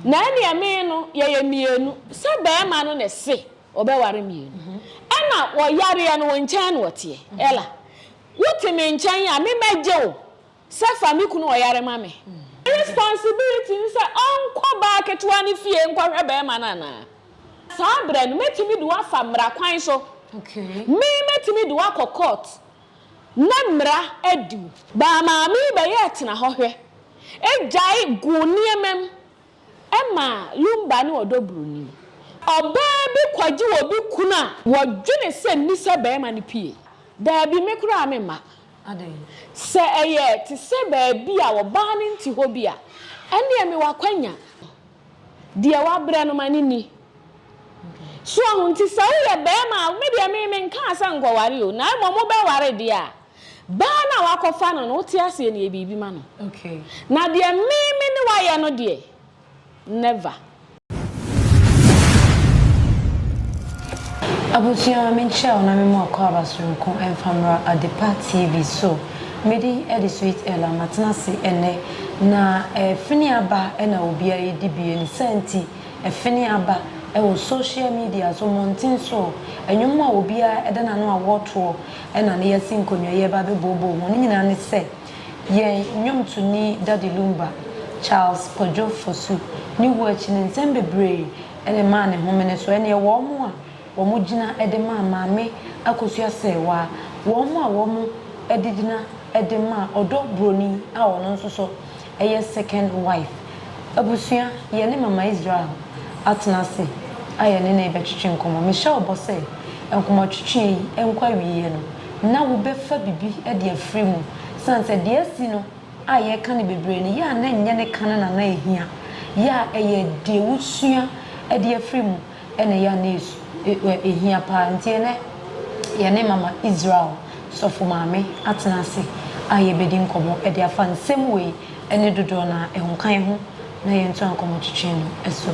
Na ɛneɛ me no yɛyɛ mmienu, sɛ barima no ne se ɔbɛware mmienu, ɛna wɔyareɛ no wo nkyɛn na ɔteɛ, Ella, wo te me nkyɛn a me mɛgye wo sɛ fa me kunu ɔyare ma me. Ne responsibility ne sɛ ɔnkɔ baa ketewa no fie nkɔhwɛ barima no anaa? Saa berɛ no mɛtumi de wo afa mmara kwan so, me mɛtumi de wo akɔ court. na mmara adi mu. Baa maame yi bɛyɛɛ tena hɔ hwɛ gyae goo nneɛma mu maa Lumba ne ɔdɔ buroni. Ɔbaa bi kɔgye obi kunu a wɔdwene sɛ nni sɛ barima no pue. Daabi, me koraa memma. Sɛ ɛyɛ te sɛ baabi a ɔbaa no nte hɔ bi a, ɛnneɛ mewɔ akwanya. Deɛ wabrɛ no ma no nni. So wahu? Nti sɛ woyɛ barima a, me deɛ me, menkaa sɛ nkɔware o, na mmom wobɛware deɛ a, baa no a woakɔfa no no, wote aseɛ no, yɛ biribi ma no. Na deɛ me, me ne wo ayɛ no deɛ, never. Abusua, menkyerɛ wo na memmɔ akwaaba soronko mfa mmra Adepa TV so. Medin de Sweet Ella, matena ase ɛnnɛ. Na ɛfene aba na obiara redi bi. Ne saa nti, ɛfene aba wɔ social media so, mmɔnten so. Nnwom a obiara da n'ano a wɔtoɔ na ne yɛasi nkonnwa yi reba abɛbooboo ho no nyinaa ne sɛ, yɛn nnwomtoni Daddy Lumba, Charles Kwadwo Fosu, ne wuo akyi no, nsɛm bebree na ɛmaa ne homene. So ɛnneɛ wɔn a. wɔgyina de maa Maame Akosua Serwaa, wɔn a wɔn de gyina de maa ɔdɔ broni a ɔno nso so yɛ second wife. Abusua, yɛne Mama Israel atena ase a yɛne no rebɛtwetwe nkɔmmɔ. Mehyɛ wo bɔ sɛ nkɔmmɔtwetweɛ yi nkɔ awieɛ no na wobɛfa biribi de afiri mu sane sɛ deɛ asi no a yɛreka no bebree no yɛ a na ɛnyɛ ne ka no na na ɛhia yɛ a ɛyɛ deɛ wosua de afiri mu. na ɛyɛ a na esu ɛ ehia paa. Ntsi ɛnnɛ yɛne Mama Israel sɔfo maame atsena ase a yebedzi nkɔmbɔ de afa nsɛm wei ne dodoɔ no ara ho ka yɛho na yɛntoa nkɔmbɔtwetwe no so.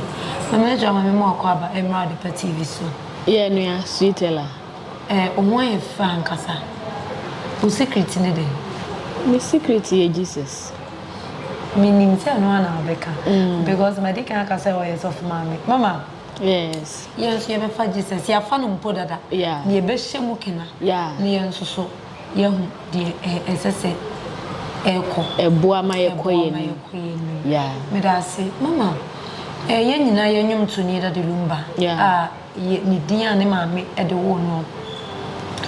Mama Israel, ma me mmoa akwaaba mmra Adepa TV so. Yɛn nua Sweet Ella. Eh, wo ho ayɛ fɛ ankasa. Wo secret ne dɛn? Me secret yɛ Jesus. Menim sɛ ɛno ara na wobɛka, because madi kan aka sɛ ɔyɛ sɔfo maame. Mama, Yes. yɛn nso yɛbɛfa Jesus, yɛafa no mpo dada, Yeah. na yɛbɛhyɛ mu kena, Yeah. na yɛn nso so yɛahu deɛ ɛ, ɛsɛ sɛ ɛkɔ. Ɛboa ma yɛkɔ Ɛboa yɛn ma anim. yɛkɔ yɛn anim. Yeah. Meda ase. Mama, eh, yɛn nyinaa yɛ nnwomtoni Daddy Lumba Yeah. a Yɛ ne din a ne maame de woo no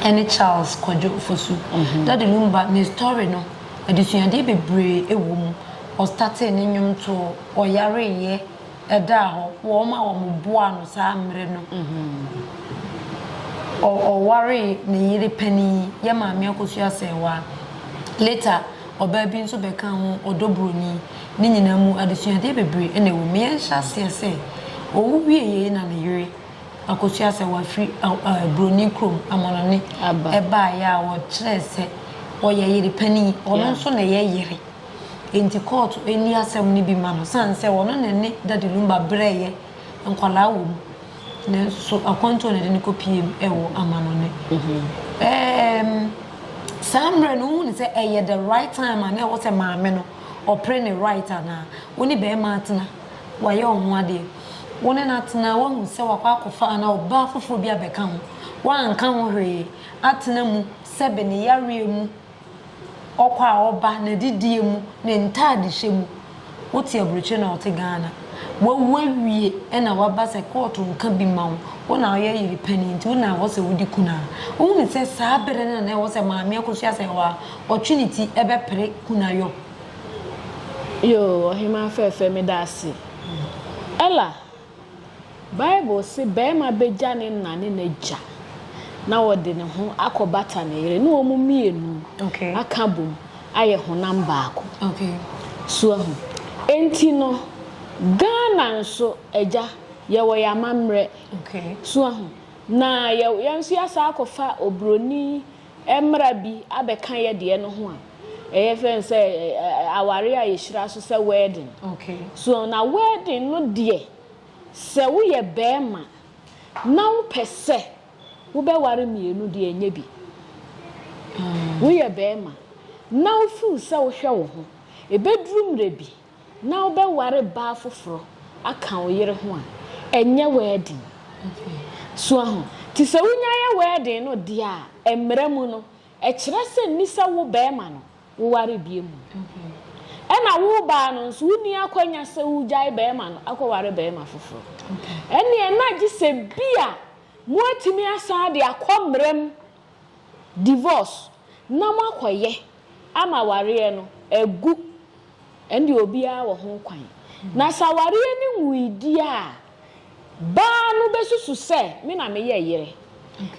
ne Charles Kwadwo Fosu. Daddy Lumba ne story no adesuadeɛ bebree wɔ mu. Ɔstartee ne nnwomtoɔ, ɔyareeɛ, ɛdaa hɔ, wɔn a wɔn boaa no saa mmerɛ no, ɔwaree ne yere panin, yɛ Maame Akosua Serwaa, later ɔbaa bi nso bɛkaa ho, Ɔdɔ Buroni. Ne nyinaa mu, adesuadeɛ bebree na ɛwɔ mu. Yɛnhyɛ aseɛ sɛ, owu wie yei na ne yere akɔsua sɛ wafiri buroni kurom, amanɔne, baeɛ a wɔkyerɛɛ sɛ ɔyɛ yere panin. Ɔno nso na ɛyɛ yere. Enti kɔɔto nni asɛm no bi mma no sane sɛ ɔno na ɛne Daddy Lumba brɛeɛ nkwadaa wɔ mu. Nanso akwantuo na ɛde no kɔpueem wɔ amanɔne. Ɛɛm, saa mmerɛ no wohunu sɛ ɛyɛ the right time a na ɛwɔ sɛ maame no ɔpere ne right anaa? Wo ne barima atena, wayɛ wo ho adeɛ, wo ne no atena, woahu sɛ wakɔ akɔfa anaa ɔbaa foforɔ bi abɛka ho, woanka ho hwee, atena mu sɛbe ne yareɛ mu, ɔkɔ a ɔba, n'adidie mu, ne ntaadehyɛ mu, wote aburokyire na ɔte Ghana, wawu awie na waba sɛ kɔɔto nka bi mma wo, wo na woyɛ yere panin nti wo na ɛwɔ sɛ wodi kunu a, wohunu sɛ saa berɛ no na ɛwɔ sɛ maame akɔsua sɛ wa Ɔtwe ne ti bɛpere kunayɔ. Yoo, ɔhemaa fɛɛfɛ, meda ase. Ella, Bible se barima begya ne na ne n'agya na ɔde ne ho akɔbata ne yere na wɔn mmienu aka bom ayɛ honam baako. So ahu? Enti no, Ghana nso, agya, yɛwɔ yɛn amammerɛ. So ahu? Na yɛn nso yɛasan akɔfa oburoni mmara bi abɛka yɛ deɛ no ho a ɛyɛ fɛn sɛ aware a yɛhyira so sɛ wɛɛden so na wɛɛden no deɛ sɛ woyɛ bɛɛma na wopɛ sɛ wobɛware mmienu deɛ ɛnyɛ bi woyɛ bɛɛma na wofiw sɛ wohwɛ wo ho ɛbɛduru mmerɛ bi na wobɛware baa foforɔ aka wo yere ho a, ɛnyɛ wɛɛden. So ahu? Nti sɛ wonya yɛ wɛɛden no deɛ a, mmara mu no, ɛkyerɛ sɛ nni sɛ wo barima no, woware biom. Ɛna wo baa no nso, wonni akwanya sɛ wogyae barima no akɔware barima foforɔ. Ɛnneɛ na gye sɛ bi a moatumi asan de akɔ mmara mu, divorce, na moakɔyɛ ama awareɛ no agu. Ɛnde obiara wɔ ho kwan. Na sɛ awareɛ no nwui deɛ a, baa no bɛsusu sɛ me na meyɛ yere.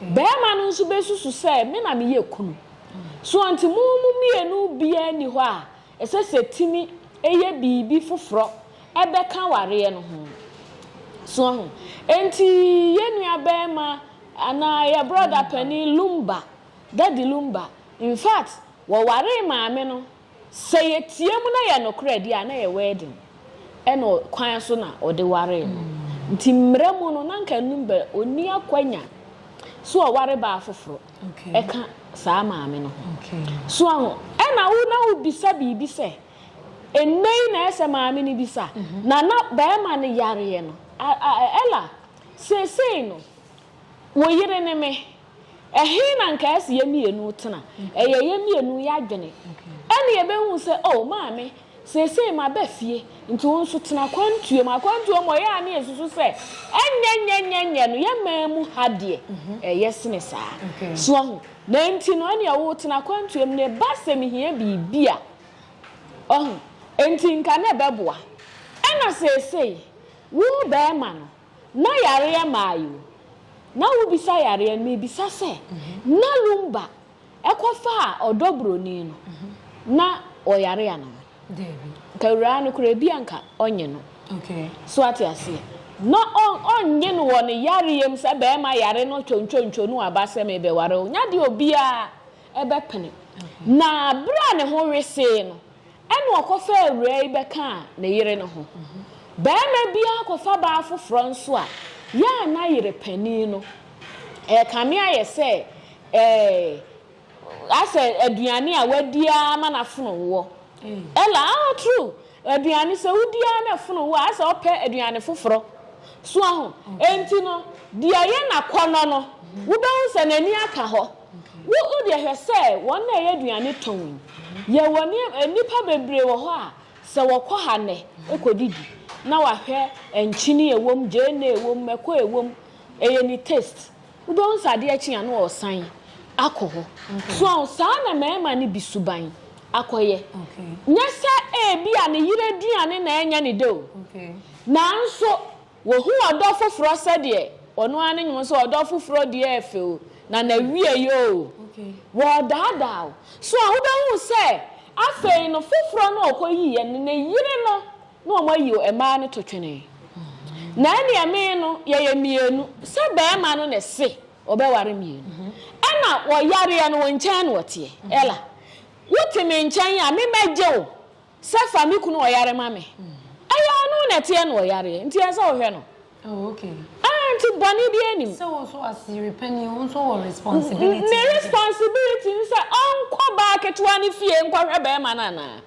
Barima no nso bɛsusu sɛ me na meyɛ kunu. So enti mo mo mmienu biara nni hɔ a ɛsɛ sɛ tumi yɛ biribi foforɔ bɛka awareɛ no ho? So ahu? Enti yɛn nuabarima anaa yɛn brɔda panin Lumba, Daddy Lumba, in fact, wɔwaree maame no. Sɛ yɛteɛ mu na yɛ nokorɛ deɛ a na yɛ wedding ɛna kwan so na ɔde waree no nti mmerɛ mu no na nka ɛnum bɛ ɔnni akwanya so ɔware baa foforɔ ɛka saa maame no ho so aho ɛna wo na wo bisa biribi sɛ ɛnɛ yi na ɛsɛ maame no bisa mhm. na na bɛrima no yareɛ no ɛla seesei no wo yere ne me Ɛhe na anka ɛsɛ yɛn mmienu tena? Ɛyɛ yɛn mmienu yɛn adwene. Ɛnna yɛbɛhu sɛ, O maame, seesei maba fie, nti wo nso tena akwantuo mu. Akwantuo mu hɔ, yɛn a na yɛsusu sɛ ɛnyɛnyɛnyɛnyɛ no, yɛn man mu ha deɛ, ɛyɛ sene saa. So woahu? Na enti no, ɛnneɛ wotena akwantuo mu, na ɛba sɛ mehia biribi a, wahu, enti nka na ɛbɛboa. Ɛnna seesei, wo barima no, Na yareɛ maayi wo. Na wo bisa yareɛ no me bisa sɛ na lumba ɛkɔ faa ɔdɔ broni no na ɔyare anaa Dabi. Nka awuraa no koraa ebia nka ɔnye no Okay. so wate aseɛ na ɔn ɔnye no wɔ ne yareɛ mu sɛ bɛɛma yare no twontwontwo no aba sɛ me bɛware wo nya deɛ obiaa ɛbɛpene Okay. na bere a ne ho wesee no Ɛnna ɔkɔfaa awuraa yi bɛkaa ne yere no ho. Barima biara kɔfa baa foforɔ nso a, yɛ a na yere panin no rekame ayɛ sɛ ɛɛ asɛ aduane a wadi ara ma n'afono wɔ. Ella, Oh, true. Aduane, sɛ wodi ara na afono wɔ a, asɛ ɔpɛ aduane foforɔ. So ahu? Enti no, deɛ ɛyɛ n'akɔnnɔ no, wobɛhu sɛ n'ani aka hɔ. Wo wo deɛ hwɛ sɛ wɔn na ɛyɛ aduane tɔn yi yɛwɔ nneɛma nnipa bebree wɔ hɔ a sɛ wɔkɔ ha nnɛ ɛkɔ didi na wahwɛ nkyene ɛwɔ mu gyeene ɛwɔ mu mako ɛwɔ mu ɛyɛ ne taste wobɛhu sɛ adeɛ kye a na ɔresan akɔ hɔ so ɔho saa na mmarima no bi suban akɔyɛ nyɛ sɛ ɛbi a ne yere aduane na ɛnyɛ ne dɛ o nanso Wɔhu ɔdɔ foforɔ sɛdeɛ ɔno ara ne nwom sɛ ɔdɔ foforɔ deɛ yɛ fɛ o, na n'awieeɛ oo, wɔredaadaa wo. So a wobɛhu sɛ afei no foforɔ no a ɔkɔyiiɛ no, ne yere no na wɔayi o, mmaa no to twene. Na ɛnneɛ me no, yɛyɛ mmienu, sɛ barima no na ɛse ɔbɛware mmienu, ɛna wɔyareɛ no, wo nkyɛn na ɔteɛ. Ella, wote me nkyɛn a, me mɛgye wo. Sɛ fa me kunu ɔyare ma me. Ɛyɛ ɔno na ɛteɛ na ɔyareɛ nti ɛsɛ wohwɛ no. Oh okay. Ah nti bɔne biara nim. Sɛ wo nso as yere panin wo nso wɔ responsibility. Ne responsibility ne sɛ ɔnkɔ baa ketewa no fie nkɔhwɛ barima no anaa?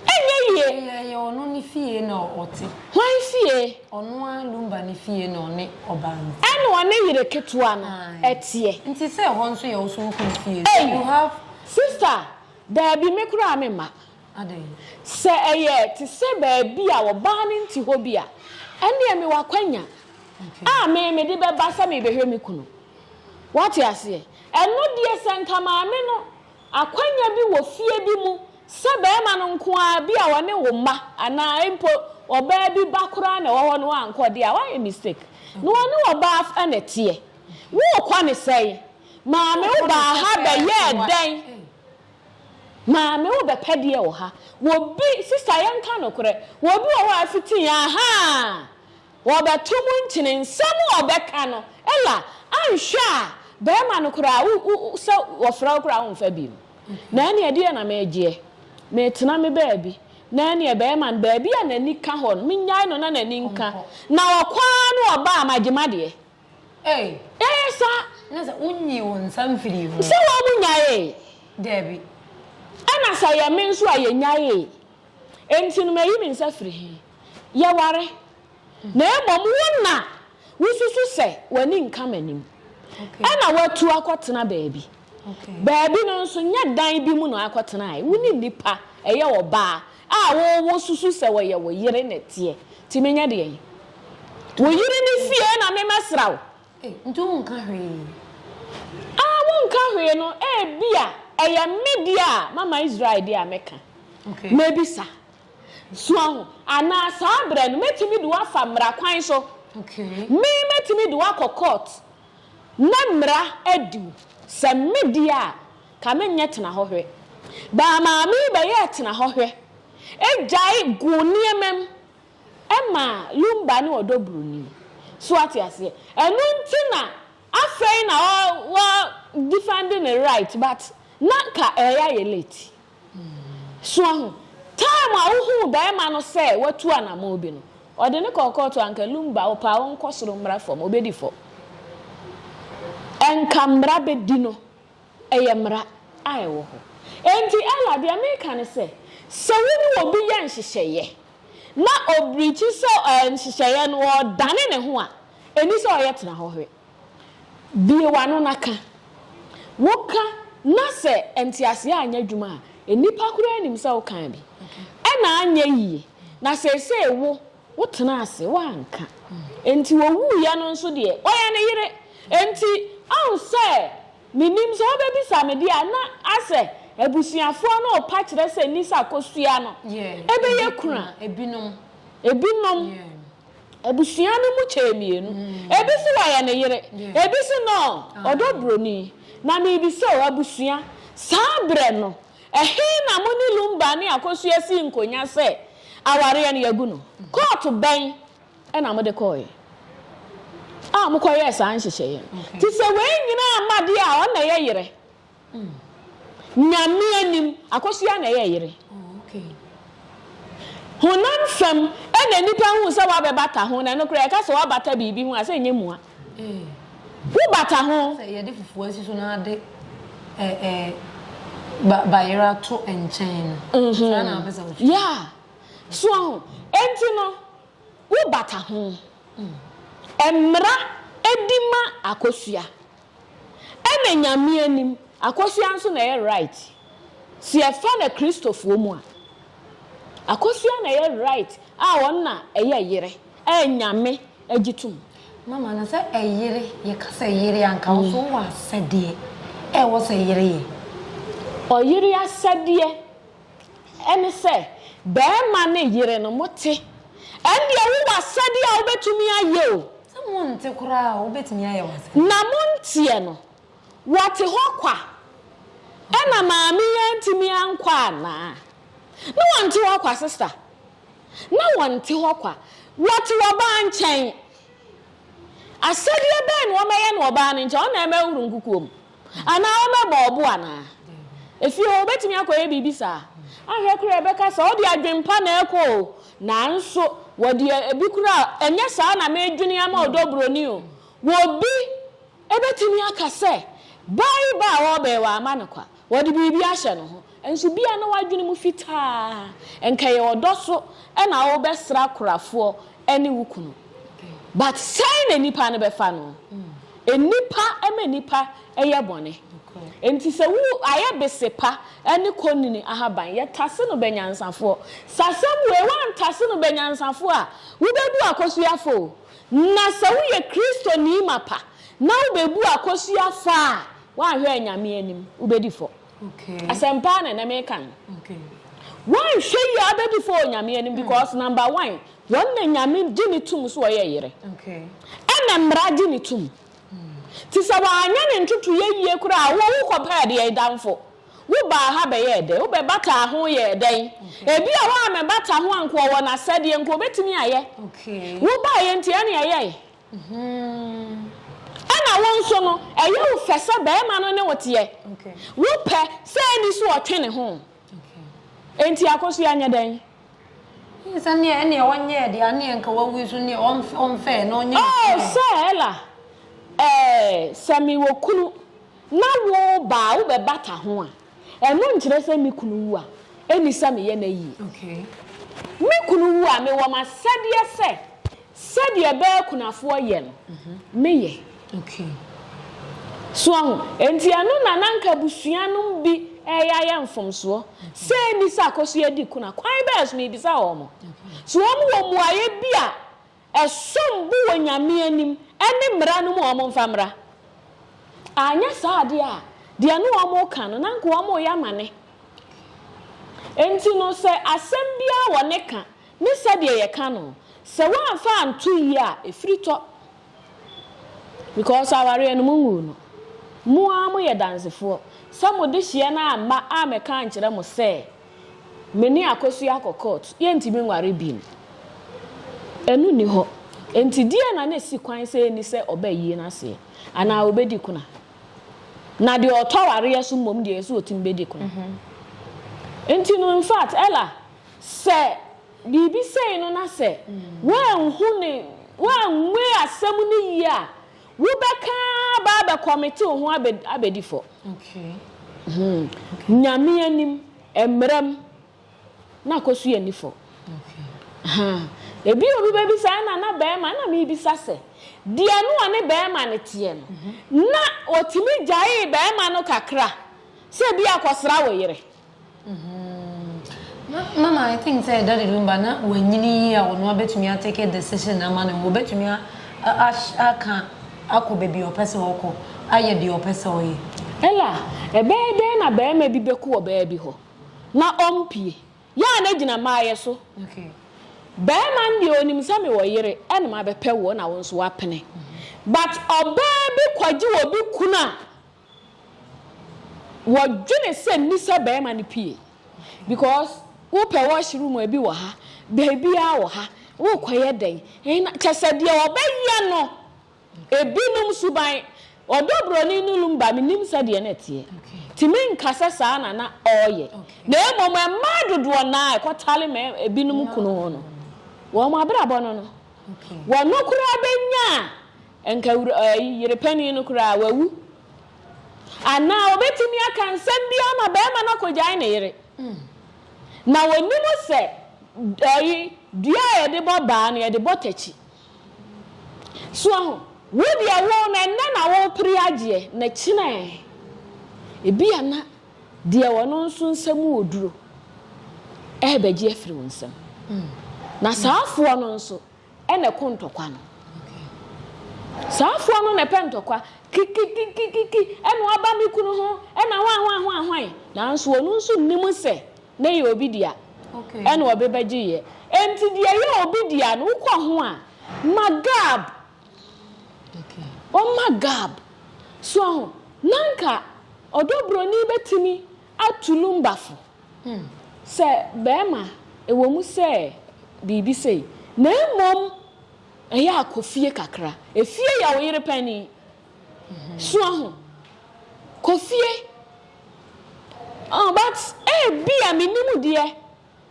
Ɛnyɛ yie. Ɛyɛ ɔno ne fie na ɔte. Hwan fie? Ɔno ara Lumba ne fie na ɔne ɔbaa no te. Ɛna ɔne yere ketewa no ɛteɛ. Nti sɛ ɛhɔ nso yɛ wo so wo kunu fie so you have. Sister Dabi, me koraa memma. Adɛn? Sɛ ɛyɛ te sɛ baabi a ɔbaa no nte hɔ bi a, ɛnneɛ mewɔ akwanya a me mede bɛba sɛ merebɛhwɛ me kunu. Woate aseɛ? Ɛno deɛ, sɛ anka maame no akwanya bi wɔ fie bi mu sɛ barima no nko ara bi a ɔne wo mma anaa mpo ɔbaa bi ba koraa na ɛwɔ hɔ na wankɔ deɛ a, woayɛ mistake. Na ɔne ɔbaa na ɛteɛ. Worekɔ ne sɛn? Maame wo baa ha bɛyɛɛ dɛn? Maame wo bɛpɛ deɛ wɔ ha? Wɔbi, sista yɛnka nokorɛ, wɔbi wɔ hɔ a fiti ahaa, wɔbɛto mo nkyene, nsɛm a wɔbɛka no, ella, anhwɛ a barima no koraa wo, wo, wo, sɛ wɔfrɛ wo koraa wonfa bi no. Na ɛneɛ ɛdeɛ na megyeɛ, metena me baabi, na ɛneɛ barima no baabi a n'ani ka hɔ no, menyae no na n'ani nka, na ɔkɔ ara na ɔba a magye madeɛ. Ei. Dɛn sa na sɛ wonyii wo nsa mfirii ho. Sɛ wɔn mu nyaee? Dabi. Ɛna sɛ ɛyɛ me nso a yɛnyaee. Enti no mayi me nsa firi he? Yɛware. Na mmom wo na wususu sɛ w'ani nka m'anim. Ɛna watu akɔtena baabi. Baabi no nso nyɛ dan bi mu na akɔtenae. Wo ne nnipa, ɛyɛ ɔbaa, A wo wo susu sɛ ɔyɛ wo yere na ɛteɛ nti menyɛ deɛn wo yere ne fie na me mɛsra wo. Ei nti wo nka hwee. A wo nka hwee no ebia ɛyɛ me deɛ a mama Israel deɛ a me ka mɛ bisa so ahu anaa saa berɛ no mɛ tumi de wo afa mmara kwan so me mɛ tumi de wo akɔ court na mmara adi wo sɛ me deɛ a Ka me nyɛ tena hɔ hwɛ. Baa Maame bɛyɛɛ tena hɔ hwɛ gyae guu nneɛma mu maa Lumba ne ɔdɔ buroni. So woate aseɛ? Ɛno nti na afei na ɔ ɔ defend ne right but na anka ɛreyɛ ayɛ late. So ahu? Time a wohuu barima no sɛ watu anamɔn bi no, ɔde no kɔɔ kɔɔto a anka Lumba wo paa ɔnkɔ soro mmra fam, ɔbɛdi fam. Anka mmara bɛdi no Ɛyɛ mmara a ɛwɔ hɔ. Enti Ella, deɛ mereka ne sɛ, sɛ wo ne obi yɛ nhyehyɛeɛ na ɔbirikyi sɛ nhyehyɛeɛ no ɔredane ne ho a, ɛnni sɛ ɔyɛ tena hɔ hwɛ. Bue w'ano na ka. Woka na sɛ nteaseɛ anyɛ adwuma a, nnipa koraa nim sɛ wokaa bi. Ɛna anyɛ yie. Na seesei wo Wotenaa ase, woanka. Enti ɔwuiɛ no nso deɛ, ɔyɛ ne yere. Enti ɔhu sɛ, menim sɛ wobɛbisa me deɛ a, na asɛ abusuafoɔ no repa kyerɛ sɛ nni sɛ akosua no bɛyɛ kunu a. Ebinom, abusua no mu kyɛɛ mmienu. Ebi se wɔyɛ ne yere, ebi se no, ɔdɔ buroni. Na merebisa o, abusua, saa berɛ no, Ɛhe na mo ne Lumba ne Akosua sii nkonnwa sɛ awareɛ no yɛagu no? Kɔɔto bɛn na mode kɔeɛ a mokɔyɛɛ saa nhyehyɛeɛ no? Te sɛ wei nyinaa mma deɛ a, ɔno na ɛyɛ yere. Nyame anim, Akosua na ɛyɛ yere. Honam fam na nnipa hu sɛ woabɛbata ho, na ɛno koraa yɛka sɛ woabata biribi ho a, sɛ ɛnyɛ mua. Wo bata ho. Sɛ yɛde fufuo asi so na ade ba bayera to nkyɛn no, tra na apɛ sɛ wotwi. Yeah. So ahu? Enti no, wo bata ho. Mmra di ma Akosua. Ɛna Nyame anim, Akosua nso na ɛyɛ right. Sɛ yɛfa no Kristofoɔ mu a, Akosua na ɛyɛ right a ɔno na ɛyɛ yere. Ɛ Nyame agye tom. Mama no sɛ ɛyere yɛ ka sɛ yere a nka wo nso wowɔ asɛdeɛ ɛ wɔ sɛ yere yɛ. Ɔyere asɛdeɛ ɛne sɛ bɛɛma ne yere no mo te ɛndeɛ wo wɔ asɛdeɛ a wo bɛtumi ayɛ o. Sɛ mo nte koraa a wo bɛtumi ayɛ wo asɛdeɛ. Na mo nteɛ no wɔ te hɔ kwa ɛna maame yi antumi ankɔ anaa? Ne wɔ nte hɔ kwa sister na wɔnte hɔ kwa. Wɔte ɔbaa nkyɛn. Asɛdeɛ bɛn na wɔbɛyɛ no ɔbaa no nkyɛn? Wɔn na wɔbɛhoro nkukuo mu? Anaa wɔbɛbɔ ɔbo anaa? Efie hɔ, wɔbɛtumi akɔyɛ biribi saa? Ahwɛ koraa yɛbɛka sɛ, Wode adwempa na ɛrekɔ o, nanso wɔde ebi koraa, Ɛnyɛ saa na meredwene ama ɔdɔ buroni o. Wɔ bi Ebetumi aka sɛ, Bareba a ɔreba yi, wɔama no kwa. Wɔde biribi ahyɛ ne ho. Nanso ebia na w'adwene mu fitaa. Anka ɛyɛ ɔdɔ so na worebɛsra akorafoɔ ne wo kunu. But sɛn na nnipa no bɛfa no? Nnipa ma nnipa yɛ bɔne. Enti sɛ wo ayɛ besepa ne konini ahaban, yɛtase no bɛnyansafoɔ. Sɛ asɛm wei woantase no bɛnyansafoɔ a, wobɛbu akosua fo o. Na sɛ woyɛ Kristoni mapa na wubebu akosua fɔ a, woanhwɛ a Nyame anim, wubedi fɔ. Asɛmpa ara na ɛnnɛ mereka no. Woanhwɛ yie a, wobedi fɔ wɔ Nyame anim because number one, wɔn na Nyame gye no tom sɛ ɔyɛ yere. Ɛna mmara gye no tom. Nti sɛ wanyɛ ne ntotoeɛ yie koraa a, wo wokɔpɛ deɛn? Damfo. Wobaa ha bɛyɛɛ dɛn? Wobɛbataa ho yɛɛ dɛn? Ebia woammɛbata ho anka ɔwɔ n'asɛdeɛ, nka obɛtumi ayɛ. Wobaeɛ nti ɛne ɛyɛe. Ɛna wo nso no, ɛyɛ wo fɛ sɛ barima no ne wo teɛ. Wopɛ sɛ ɛnni so ɔtwe ne ho. Enti akosua nyɛ dɛn? Sɛ neɛ ɛneɛ ɔnyɛɛ deɛ a neɛ nka wawu nso neɛ ɔmfɛɛ na ɔnyɛ ne fɛɛ. Oh sɛ Ella, eh, sɛ mewɔ kunu Na wo ba a wobɛbata ho a, ɛno nkyerɛ sɛ me kunu wu a, ɛnni sɛ meyɛ no ayie. Me kunu wu a, mewɔ m'asɛdeɛ sɛ sɛdeɛ bɛɛ akunafoɔ yɛ no, meyɛ. So wahu? Enti ɛno na na anka abusua no mu bi reyɛ ayɛ mfomsoɔ sɛ ɛnni sɛ akɔsoɛ di kuna. Kwan bɛn so? Merebisa wɔn. So wɔwɔ mmuaeɛ bi a Ɛsom bo wɔ Nyame anim ne mmara no mu a wɔmfa mmra. Anyɛ saa deɛ a, deɛ ne wɔn reka no, na anka wɔreyɛ amane. Enti no, sɛ asɛm biara wɔ ne ka ne sɛdeɛ yɛka no, sɛ woamfa anto yie a, ɛfiri tɔ. Because awareɛ no, monguu no. Mo ara moyɛ dansefoɔ sɛ mo dehyeɛ no amma ammɛka ankyerɛ mo sɛ Me ne Akosua akɔ court, yɛntumi nware bim. Ɛno nni hɔ. Enti deɛn na na ɛsi kwan sɛ ɛnni sɛ ɔbɛayi no aseɛ? Anaa ɔbɛdi kuna? Na deɛ ɔtɔ awareɛ so mmom deɛ, ɛyɛ sɛ ɔtumi bɛdi kuna. Enti no, infact, Ella, sɛ biribi sei no na sɛ woanhu ne, woanwei asɛm no yie a, Wo bɛ ka aba abɛ kɔmete wo ho abɛ abɛ di fɔ. Nyame anim, mmra mu na kɔ so yɛ ni fɔ. Ebi obi bɛ bisa ɛna na bɛɛma ɛna me bisa sɛ deɛ no ɔne bɛɛma no teɛ no na ɔtumi gyaee bɛɛma no kakra sɛ bi akɔ sra wo yere. Mama I think sɛ daddy Lumba na wanyini yie a ɔno abɛtumi a take decision ama ne ho, ɔbɛtumi aka akɔ baabi a ɔpɛ sɛ ɔkɔ, ayɛ deɛ ɔpɛ sɛ ɔyɛ. Ella, ɛbɛyɛ dɛn na barima bi bɛkɔ ɔbaa bi hɔ na ɔmpue? Yɛ a na gyina m'ayɛ so. Barima no deɛ ɔnim sɛ mewɔ yere na mabɛpɛ woɔ na wo nso woapene but ɔbaa bi kɔgye obi kunu a, Wɔdwene sɛ misa barima no pie because wopɛ wash room a ebi wɔ ha, baabiara wɔ ha, wokɔyɛ dɛn? Kyɛ sɛ deɛ wɔbɛyɛ no, ebinom suban, ɔdɔ buroni no lumba, mennim sɛdeɛ na ɛteɛ, nti menka sɛ saa na na ɔreyɛ, na mmom mmaa dodoɔ no ara a ɛkɔtale ebinom kunu ho no, wɔn abrabɔ no no, wɔn koraa bɛnya Anka yere panin no koraa, wawu. Anaa obetumi aka nsɛm bi ama barima no akogyae ne yere. Na onim sɛ dua a yɛde bɔ baa no, yɛde bɔ takyi. So ahu? Wo deɛ, wo no, ɛnnɛ na worepere agyeɛ, na kyena ɛ? Ebia na deɛ ɔno nso nsa mu wɔ duro rebɛgye afiri wo nsam. Na saa afoɔ no nso, Ɛna ɛko ntɔkwa no. Saa afoa no na ɛpɛ ntɔkwa. Kikikikikiki, ɛna ɔba me kunu ho, ɛna hwan hwan hwan hwan. Nanso ɔno nso nnim sɛ na ɛyɛ obi dea. Ɛna ɔbe bɛgyeeɛ. Enti deɛ ɛyɛ obi dea no, wokɔ ho a, ma gab. Ɔmma gab. So ahu? Na anka ɔdɔ buroni bɛtumi atu lumbafo. Sɛ barima, ɛwɔ mu sɛ biribi sei, na mmom ɛyɛ a kɔ fie kakra. Efie yɛ wo yere panin. Sua ho. Kɔ fie. But ebia, mennim deɛ,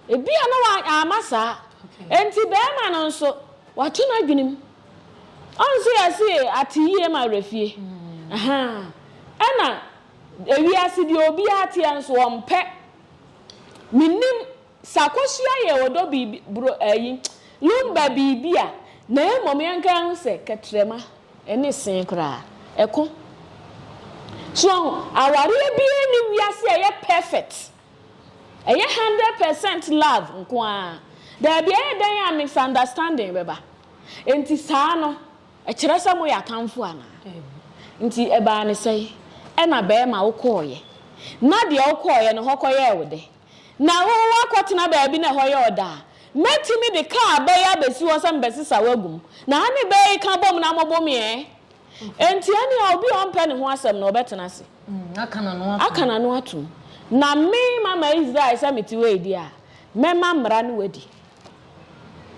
ebia na wa, amma saa. Enti barima no nso, wato n'adwenem. Ɔnso yɛse ateyie ma werɛ fie. Ɛna. Ewiase deɛ obiara teɛ nso ɔmpɛ mennim sɛ akɔsua yɛ ɔdɔ biribi bro ayi lumba biribi a na mmom yɛnka yɛho sɛ kɛtrɛma ɛne see koraa ɛko so wahu awareɛ biara nni wiase a ɛyɛ perfect ɛyɛ hundred percent love nko ara daabi ɛyɛ dɛn a misunderstanding bɛba enti saa no Ɛkyerɛ sɛ moyɛ atamfo anaa? Nti ɛbaa ne sɛn? Ɛna bɛɛma wokɔɔeɛ? Na deɛ wokɔɔeɛ no hɔ kɔyɛɛ wo dɛ? Na wo woakɔtena baabi na ɛhɔ yɛ ɔdɛ a, mɛtumi de kaa bɛ yi abɛsi hɔ sɛ mebɛsesa wo agu mu. Na ane bɛ yi ka bom na mobo me ɛ? Enti ɛneɛ obi a ɔmpɛ ne ho asɛm no ɔbɛtena ase, aka n'ano atom. Na me mama Israel sɛ mete wei deɛ a, mɛma mmara no wadi.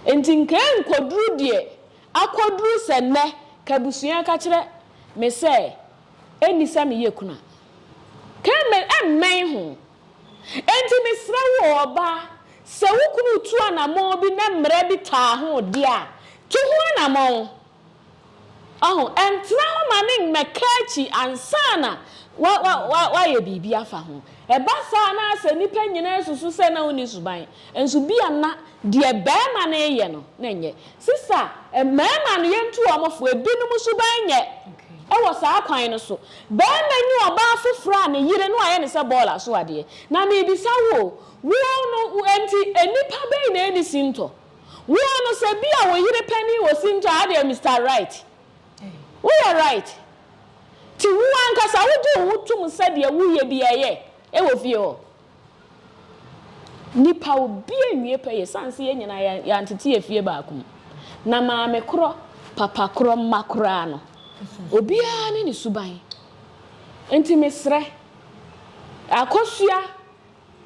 Enti nka ɛnkɔduru deɛ Akoduru sɛ nnɛ, kabusua ka kyerɛ me sɛ enni sɛ meyɛ kunu a, Carmen mmɛn ho. Enti mesrɛ wo o, ɔbaa, sɛ wo kunu retu anammɔn bi na mmara bi taa ho de a, tu ho anammɔn. Wahu? Ntena hɔ ma no mmɛka akyi ansa na woayɛ biribi afa ho. Ɛba saa na sɛ nnipa nyinaa susu sɛ na wunni suban Nso bia na deɛ barima no reyɛ no na ɛnyɛ. Sisa, mmarima no yɛntu wɔn fo, ebinom suban nyɛ wɔ saa kwan no so. Barima nyi ɔbaa foforɔ a ne yere no ayɛ no sɛ bɔɔla so adeɛ. Na mebisa wo o, woɔ no nti nnipa bɛn na ɛnni sintɔ? Woɔ no sɛ bia wo yere panin wɔ sintɔ a adeɛ Mister Right, woyɛ right. Nti wo ankasa wogye wo ho tom sɛ deɛ woyɛ biara ɛyɛ wɔ fie hɔ? Nnipa obi anwie pɛ yɛ sane sɛ yɛn nyinaa yɛantete afie baako mu. Na maame korɔ, papa korɔ, mma koraa no, obiara ne ne suban. Enti mesrɛ, akosua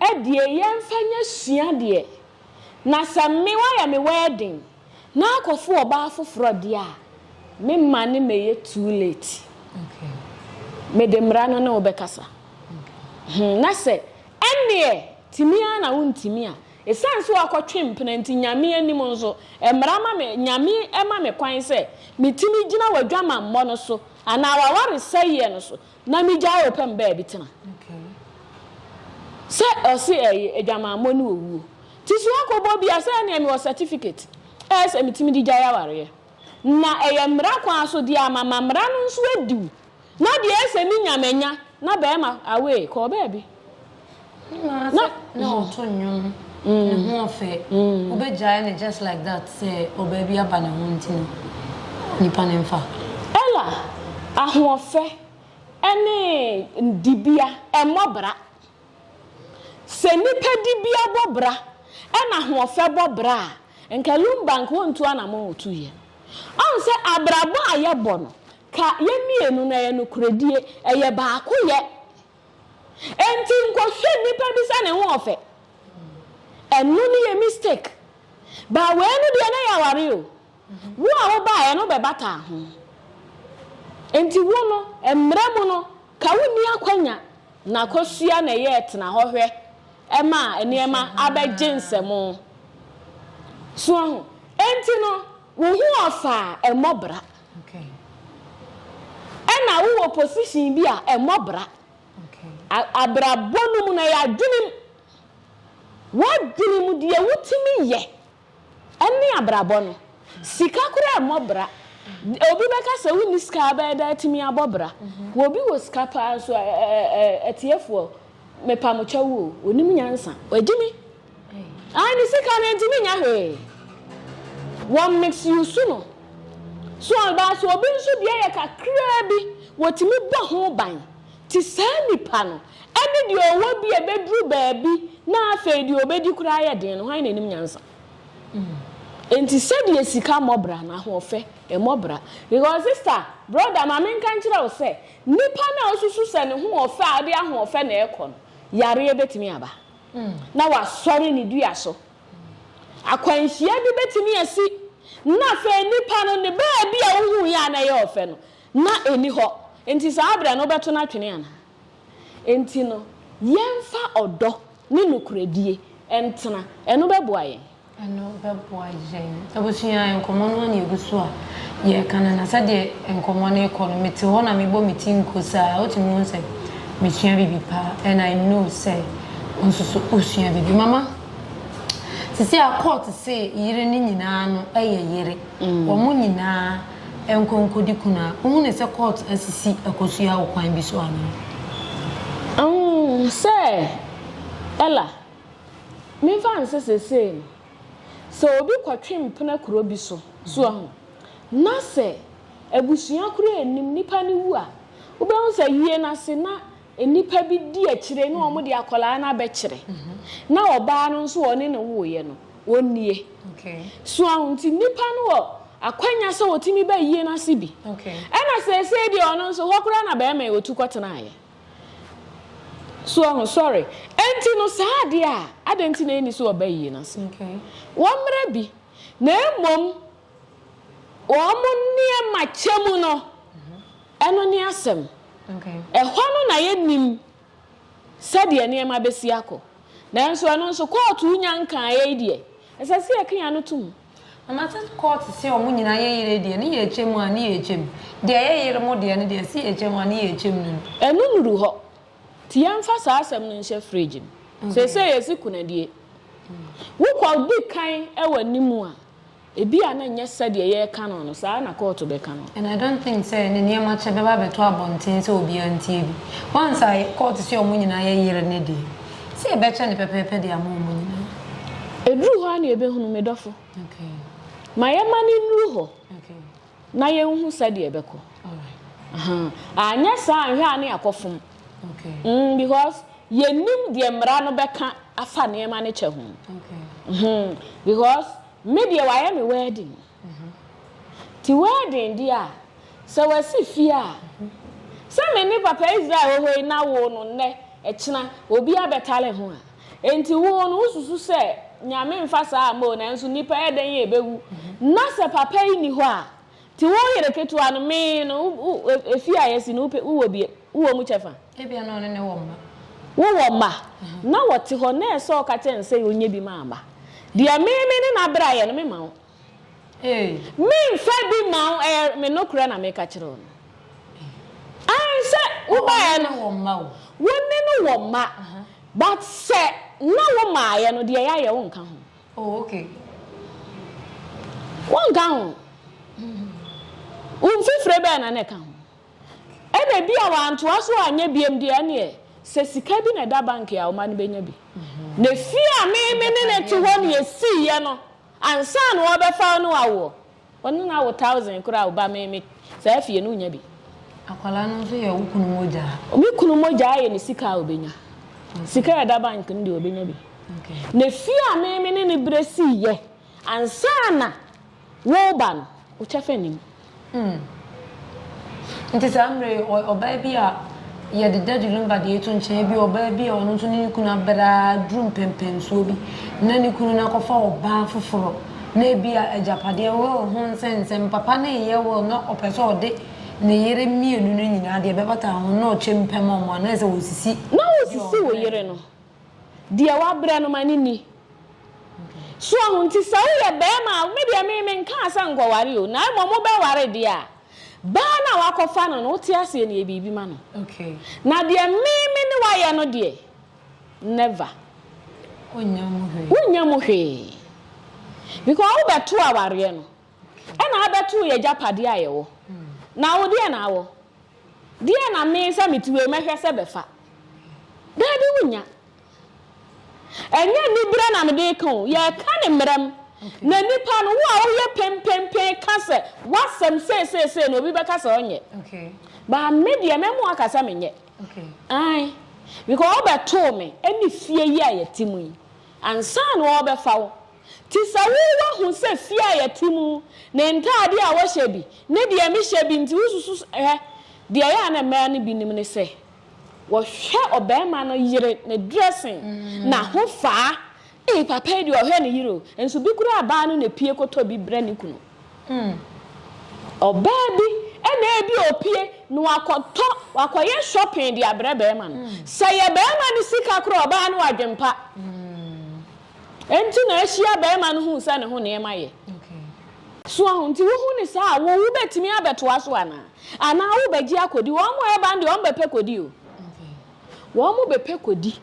adie yɛmfa nyɛ sua deɛ. Na sɛ me wayɛ me wedding. Na akɔfo ɔbaa foforɔ deɛ a, me mma ne mɛyɛ too late. Mede mmara no ne wo bɛkasa. Hmm, na sɛ ɛnneɛ tumi ara na wontumi a, ɛsiane sɛ woakɔtwe mpena nti, Nyame anim nso, mmara ma me, Nyame ma me kwan sɛ metumi gyina w'adwamammɔ no so anaa w'awaresɛeɛ no so Na me gyae wo pɛ me baa bi tena. Sɛ ɔse ɛye adwamammɔ ne owuo ti so akɔ bɔ bia sɛ ɛneɛ me wɔ certificate ɛyɛ sɛ metumi de gyae awareɛ na ɛyɛ mmara kwan so deɛ a ma ma mmara no nso adiw na deɛ ɛyɛ sɛ me nya manya na bɛɛma away kɔɔ baabi. Ne maa sɛ na ɔto nnwom ne ho ɔfɛ wobɛgyae no just like that sɛ ɔbaa bi aba ne ho nti no nipa no mfa. Ella ahoɔfɛ ne dibea mmɔ bra. Sɛ nipa dibea bɔ bra na ahoɔfɛ bɔ bra a nka lumba nka ɔntu anamɔn a ɔtuiɛ. Ɔhu sɛ abrabɔ a yɛbɔ no ka yɛn mmienu no ɛyɛ nokorɛdie ɛyɛ baakoyɛ Enti nkɔhwɛ nipa bi sɛ ne ho ɔfɛ. Ɛno no yɛ mistake. But wei no deɛ na yɛ aware o. Wo a wobaeɛ no bɛbataa ho. Enti wo no, mmara mu no, ka wonni akwanya na akɔsua na ɛyɛ tena hɔ hwɛ ma nneɛma abɛgye nsam. So ahu? Enti no, wo ho ɔfɛ a, ɛmmɔ bra. Ɛna wowɔ position bi a ɛmmɔ bra. Abrabɔ no mu no ɛyɛ adwenem. W'adwene mu deɛ wotumi yɛ ɛne abrabɔ no. Sika koraa ɛmmɔ bra. Obi bɛka sɛ wonni sika abɛyɛ dɛn atumi abɔ bra. Obi wɔ sika paa nso ɛɛ ɛɛ ɛɛ atiefoɔ mepa mo kyɛw o, ɔnim nyansa. Ɛgyimi Ae ne sika no ntumi nyɛ hwee wɔ mix use no so anaa sɛ obi nso deɛ yɛ kakraa bi wɔtumi bɔ ho ban te saa nipa no ɛne deɛ ɔwɔ bi a ɛbɛduru baabi na afei deɛ ɔbɛdi koraa yɛ den no hwan na ɛnim nyansa enti sɛdeɛ sika mmɔ bra no ahoɔfɛ ɛmmɔ bra because sister brother ma menka nkyerɛ wo sɛ nipa no a ɔsusu sɛ ne hoɔfɛ a ɔde ahoɔfɛ na ɛkɔ no yareɛ bɛtumi aba. na wasɔre ne dua so. Akwanhyia bi betumi asi, na afei nipa no ne baabi a ohui a na ɛyɛ ɔfɛ no, na enni hɔ. Enti saa bere no wobɛto no atwene anaa? Enti no, yɛmfa ɔdɔ ne nokorɛdie ntena. Ɛno bɛboa yɛn. Ɛno bɛboa yɛn. Abusua, nkɔmmɔ no ara na ɛgu so a yɛreka no, na sɛdeɛ nkɔmmɔ no rekɔ no, mete hɔ na mebɔ me ti nko saa. Wotumi hu sɛ mesua biribi pa ara, and I know sɛ wo nso so wosua biribi. Mama, seesei a court se yere no nyinaa no yɛ yere, wɔn nyinaa nkɔ nkɔdi kunu a, wohu no sɛ court asisi akosua wɔ kwan bi so anaa? Sɛ Ella Memfa nsɛ sesei no, sɛ obi kɔtwe mpena kuro bi so, so wahu? Na sɛ abusua koro a ɛnim nipa no wu a, wobɛhu sɛ wie no ase na nnipa bi di akyire na wɔn de akwadaa no abɛkyerɛ. Na ɔbaa no nso a ɔne no woeɛ no, ɔnnie. So wahu? Nti nipa no wɔ akwanya sɛ ɔtumi ba yie no ase bi. Ɛna sesei deɛ ɔno nso, hɔ koraa na barima yi ɔtu kɔtenaeɛ. So wahu? Sɔre. Enti no, saa adeɛ a, adɛn nti na yɛnni so wɔ bayie no ase? Wɔn mmara bi, na mmom wɔn nneɛma kyɛ mu no, ɛno ne asɛm. Ɛhɔ no na yɛnnim sɛdeɛ nneɛma bɛsi akɔ. Nanso ɛno nso, kɔɔto nya nkaeɛ yi deɛ, ɛsɛ sɛ yɛka yɛn ano to mu. Na Matet court se ɔmo nyinaa yɛ yere deɛ ne yɛ kyɛ mu a ne yɛ kyɛ mu deɛ yɛ yere mo deɛ no deɛ se yɛ kyɛ mu a ne yɛ kyɛ mu no no. Ɛno nuru hɔ nti yɛnfa saa asɛm no nhyɛ fridge mu seesei yɛsi kunadie. Wokɔ di kan wɔ anim a ebi a na nyɛ sɛdeɛ yɛreka no no saa na court bɛka no. And I don't think sɛ ɛnɛ nneɛma kyɛ bɛba abɛto abɔnten sɛ obiara ntie bi once a court se ɔmo nyinaa yɛ yere ne deɛ. Sɛ yɛbɛkyɛ no pɛpɛɛpɛ de ama wɔn nyinaa. Ɛduru hɔ a na yɛbɛhunu me dɔfo. Ma yɛmma no nnuru hɔ na yɛnhu sɛdeɛ ɛbɛkɔ. Anyɛ saa a nhwɛ a na yɛakɔfom. Because yɛnnim deɛ mmara no bɛka afa nneɛma no kyɛ ho. Because me deɛ wɔayɛ me wedding. Ti w'adwen di a, sɛ w'asi fie a, sɛ me ne papa Israel wɔ hɔ yi na wo no nnɛ, ɛkyena, obi abɛtare ho a, enti wo no wo susu sɛ Nyame mfa saa a mma o, nanso nnipa yɛ dɛn a ɛbɛwu, na sɛ papa yi nni hɔ a, ti wo yere ketewa no, me no, wo, wo, efie a yɛasi no, wo pɛ, wo wɔ bi, wo wɔ mu kyɛfa a. Ebia na ɔne no wɔ mma. Wowɔ mma, na wɔte hɔ, na ɛsɛ sɛ ɔka kyerɛ no sɛ ɔnyɛ bi ma mma. Deɛ me me ne no abrɛ ayɛ no, memma wo. Memfa bi mma wo, ɛyɛ me nokorɛ na meka kyerɛ wo no. Aane, sɛ wobaeɛ no, wo ne no wɔ mma, but sɛ na womaeɛ no, deɛ yɛayɛ, wonka ho. Wonka ho. Wo mfifire bɛn na na ɛka ho? Ɛna ebia wantoa so anyɛ biom deɛ ɛneɛ sɛ sika bi na ɛda bank a ɔma no bɛnya bi. Na efie a me me ne no te hɔ na yɛsiiɛ no ansa na ɔbɛfa wo ne awoɔ. Ɔne no awo thousand koraa a ɔba me me saa fie no wonya bi. Akwadaa no nso yɛ wo kunu mogya. Me kunu mogya ayɛ ne sika a ɔbɛnya. Sika a ɛda bank no deɛ ɔbɛnya bi. Na efie a me me ne no berɛ siiɛ ansa na. Wo ba no, wo kyɛfa nni mu. Hmm. Nti saa mmerɛ yi, ɔ, ɔbaa bi a yɛde Daddy Lumba deɛ to nkyɛn, ebia ɔbaa bi a ɔno nso ne ne kunu abɛre ara duru mpɛnpɛnsoɔ bi, na ne kunu no akɔfa ɔbaa foforɔ, na ebia agyapadeɛ, will ho nsɛnsɛm, papa no reyɛ will na ɔpɛ sɛ ɔde ne yere mmienu no nyinaa deɛ ɛbɛbata ho no na ɔkyɛm pam wɔn, anaasɛ ɔresisi Na wosisi wo yere no, Deɛ wabrɛ no ma no nni. So ɔho? Nti sɛ woyɛ barima a, me deɛ me, menkaa sɛ nkɔware o, na mmom wobɛware deɛ a, baa no a woakɔfa no no, wote aseɛ no, yɛ biribi ma no. Na deɛ me, me ne wo ayɛ no deɛ, never. Wonnya mu hwee. Wonnya mu hwee. Because wobɛtoo awareɛ no, ɛna abɛtoo yɛ agyapadeɛ a yɛwɔ. Na wo deɛ na awɔ? Deɛ na me sɛ mete wei mɛhwɛ sɛ bɛfa? Daabi wonnya. Ɛnyɛ anibere na mede reka o, yɛreka ne mmerɛm. Na nipa no, wo a woyɛ penpenpen ka sɛ w'asɛm sei sei sei no, obi bɛka sɛ ɔnyɛ. But me deɛ mɛma waka sɛ menyɛ. Ae. Because wobɛtoo me ne fie yi a yɛte mu yi ansa na wɔrebɛfa wo. Te sɛ wo, woahu sɛ fie a yɛte mu, ne ntade a wɔhyɛ bi, ne deɛ mehyɛ bi nti, wosusu sɛ, Hwɛ! Deɛ ɛyɛ a na mmaa no bi nim ne sɛ, wɔhwɛ ɔbarima no yere ne dressing, n'ahofaa. Ei, papa yi deɛ ɔhwɛ ne yere o! Nso bi koraa baa no na epue kɔtɔ bi brɛ ne kunu. Ɔbaa bi na ebi a ɔpue na wakɔtɔ, wakɔyɛ shopping de abrɛ barima no. Sɛ ɛyɛ barima no sika koraa a, ɔbaa no adwempa. Enti na ahyia barima no hui sɛ ne ho nneɛma yɛ. So ahu nti wohu no saa a, wo wobɛtumi abɛtoa so anaa? Anaa wobɛgye akɔdi? Wɔn a ɛreba no deɛ wɔn bɛpɛ kɔdi o. Wɔn bɛpɛ kɔdi.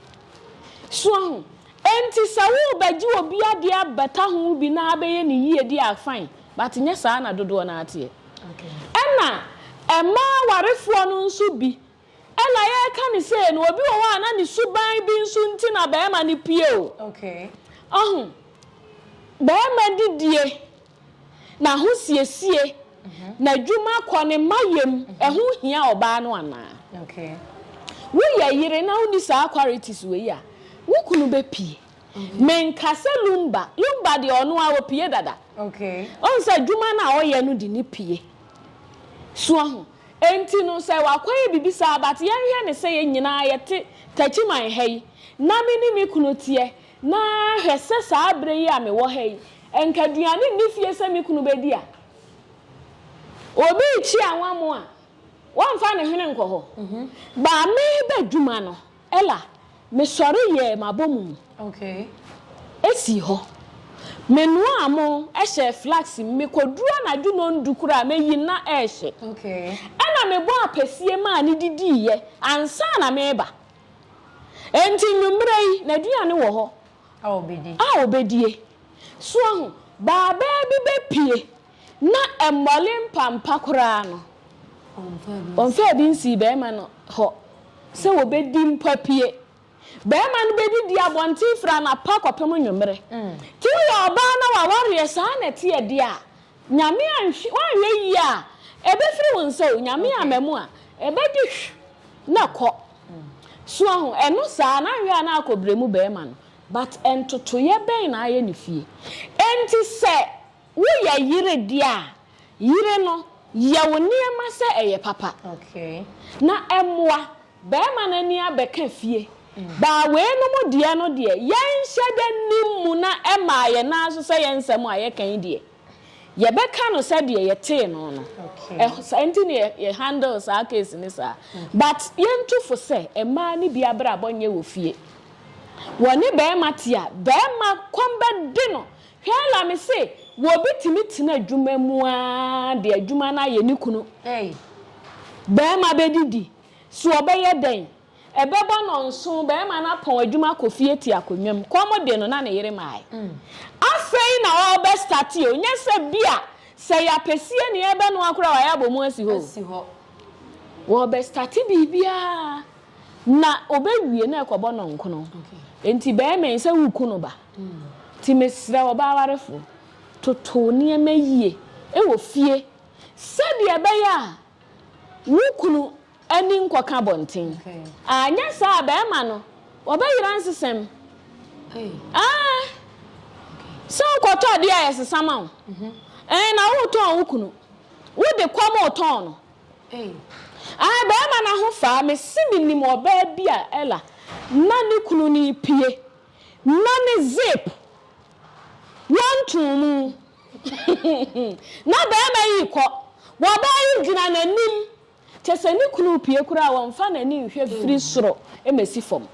So ahu? Enti sɛ worebɛgye obi adeɛ abɛka ho bi na abɛyɛ ne yie deɛ a, fine. But nyɛ saa na dodoɔ no ara teɛ. Ɛna mmaa awarefoɔ no nso bi Ɛna yɛreka no sei no, obi wɔ hɔ a na ne suban bi nso nti na barima no pue o. Ɔho, barima didie, n'ahosiesie, n'adwuma kɔ, ne mma yam, ɛho hia ɔbaa no anaa? Woyɛ yere na wonni saa qualities wei a, wo kunu bɛpue. Menka sɛ Lumba, Lumba deɛ ɔno ara ɔpue dada. Ɔhu sɛ adwuma no a ɔyɛ no de no pue. So ahu? Enti no sɛ wakɔyɛ biribi saa but yɛnhwɛ no sɛ yɛn nyinaa yɛte Takyiman ha yi na me ne me kunu teɛ na hwɛ sɛ saa berɛ yi a mewɔ ha yi nka aduane nni fie sɛ me kunu bɛdi a, obi rekyi anwa mo a, wɔmfa ne hwene nkɔ hɔ. But meba adwuma no Ella, Mesɔre yɛɛ m'abɔmu sii hɔ. Menoaa mo hyɛɛ flax mu. Mekoduru anadwo nɔndu koraa a, meyi no na ɛrehye. Ɛnna mebɔɔ apasie maa no didiiɛ ansa na mereba. Enti anwummerɛ yi, n'aduane wɔ hɔ a ɔbɛdie. So ahu? Baabaa bi bɛpue. Na ɛmmɔre mpampa koraa no, wɔmfaa bi nsii barima no hɔ sɛ wɔbɛdi mpa pue. Barima no bɛdidii abɔnten firi anɔpa kɔpem anwummere. Nti woyɛ ɔbaa na w'awareɛ saa na ɛteɛ deɛ a, Nyame anhwɛ, woanhwɛ yie a, ɛbɛfiri wo nsa o, Nyame amma mu a, ɛbɛdi hw na kɔ. So woahu? Ɛno saa, na anhwɛ a na akɔ brɛ mu barima no. But ntotoeɛ bɛn na ayɛ ne fie? Enti sɛ. Woyɛ yere de a, yere no yɛ wo nneɛma sɛ ɛyɛ papa, na ɛmmoa barima no ani abɛka fie. Baa weinom deɛ no deɛ, yɛnhyɛ da nnim mu na ɛmaa yɛn ara nso sɛ yɛn nsɛm a yɛka yi deɛ, yɛbɛka no sɛdeɛ yɛtee no no. Saa nti na yɛ handle saa case no saa. But yɛntu fo sɛ mmaa no bi abrabɔ nyɛ wɔ fie. Wɔne barima te a, barima kɔm bɛde no Hwɛ ara me se wɔ obi tumi tena adwuma mu ara de adwuma no ayɛ ne kunu ei. Barima bɛdidi, so ɔbɛyɛ dɛn? Ɛbɛbɔ nnɔnso, barima no apɔn adwuma akɔ fie te akonnwa mu. Kɔm de no na ne yere mae. Afei na ɔrebɛstate o, nyɛ sɛ bi a sɛ ɛyɛ apɛsie na yɛrebɛnoa koraa a wayɛ abɔ mu asi hɔ o. Ɔrebɛstate biribiara na ɔbɛwie na ɛkɔbɔ nnɔnkono. Enti barima yi sɛ woreku no ba. Nti mesrɛ wo, ɔbaa warefo, toto wo nneɛma yie wɔ fie sɛdeɛ ɛbɛyɛ a wo kunu ani nkɔka abɔnten. Anyɛ saa a, barima no, ɔbɛyera nsesɛm. Aane. Sɛ wokɔtɔ adeɛ a yɛsesa ma wo, ɛɛ, na woretɔn wo kunu, wode kwa ma ɔtɔn no. Aane, barima no ahofaa, mese menim ɔbaa bi a, Ella, na ne kunu no repue. Na ne zip wɔntoo mu. Na barima yi rekɔ. Ɔbaa yi gyina n'anim. Kyerɛ sɛ ne kunu repue koraa a, ɔmfa n'ani nhwɛ firi soro mmɛsi fam.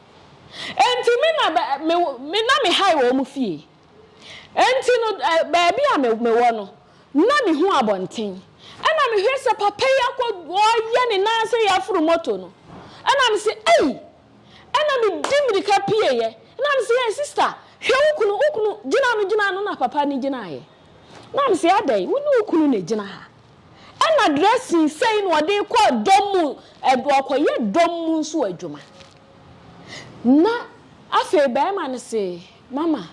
Enti me na bɛ me me na me high wɔ wɔn fie. Enti no ɛ baabi a me mewɔ no, na mehu abɔnten. Ɛna mehwɛ sɛ papa yi akɔ ɔreyɛ ne nan sɛ yɛaforo moto no. Ɛna mese ei! Ɛna me di mirika pie yɛ na me se yɛ sister hwɛ wo kunu wo kunu gyina no gyina no na papa no gyina yɛ na me se adɛn wo ne wo kunu na gyina ha ɛna dressing sɛi na ɔde kɔ dɔm mu ɔkɔ yɛ dɔm mu nso adwuma na afei bɛrima no se mama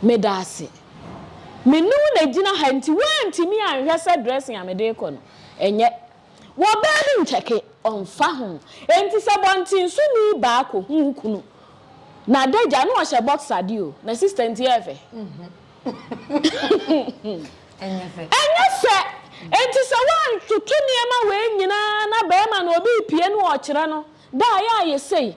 me da ase me ne wo na gyina ha nti woantumi anhwɛ sɛ dressing a mede kɔ no ɛnyɛ Wɔ baa bi nkyɛke, ɔmfa ho. Enti sɛ bɔntensoni baa kɔ hu wo kunu, n'adagya, na ɔhyɛ boxer de o, na sister nti ɛyɛ fɛ? Ɛnyɛ fɛ! Enti sɛ woantoto nneɛma wei nyinaa na barima no obi repie na ɔrekyerɛ no, da a ɛyɛ a yɛ sei,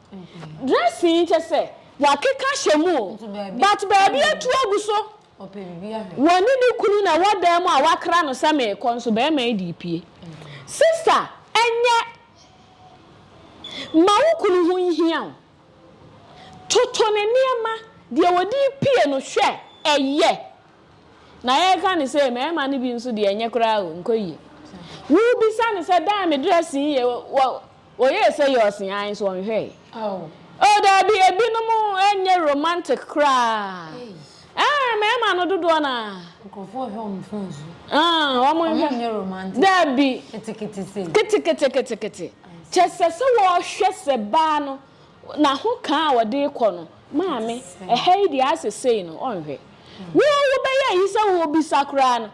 Dressing yi kyɛ sɛ wɔakeka hyɛ mu o, but baabi atu agu so. Wɔne ne kunu na ɛwɔ dan mu a wakra no sɛ meekɔ nso barima yi de pue. Sista ɛnyɛ ma wo kunu ho nhia wo. Toto ne nneɛma, deɛ ɔde pue no hwɛ ɛyɛ Na yɛreka no sei, mmarima no bi nso deɛ ɛnyɛ koraa o, nkɔ yie. Wobisa no sɛ, Dan, me dress yi ye? Ɔyɛɛ sɛ yɛ ɔse ae nso ɔnhwɛeɛ. Oh, daabi, ebinom ɛnyɛ romantic koraa. Ɛɛ, mmarima no dodoɔ no ara. Nkurɔfoɔ hwɛ wɔn phone so. Ɛɛ, wɔn nhwɛ. Wɔn nyɛ romantic. Daabi. Ketekete sei. Ketekete ketekete. Kyɛ sɛ sɛ wɔhwɛ sɛ baa no, Na ho ka a ɔde rekɔ no, Maame, ɛha yi deɛ asɛ sei no, ɔnhwɛ. Wo a wobɛyɛ ayi sɛ wobisa koraa no,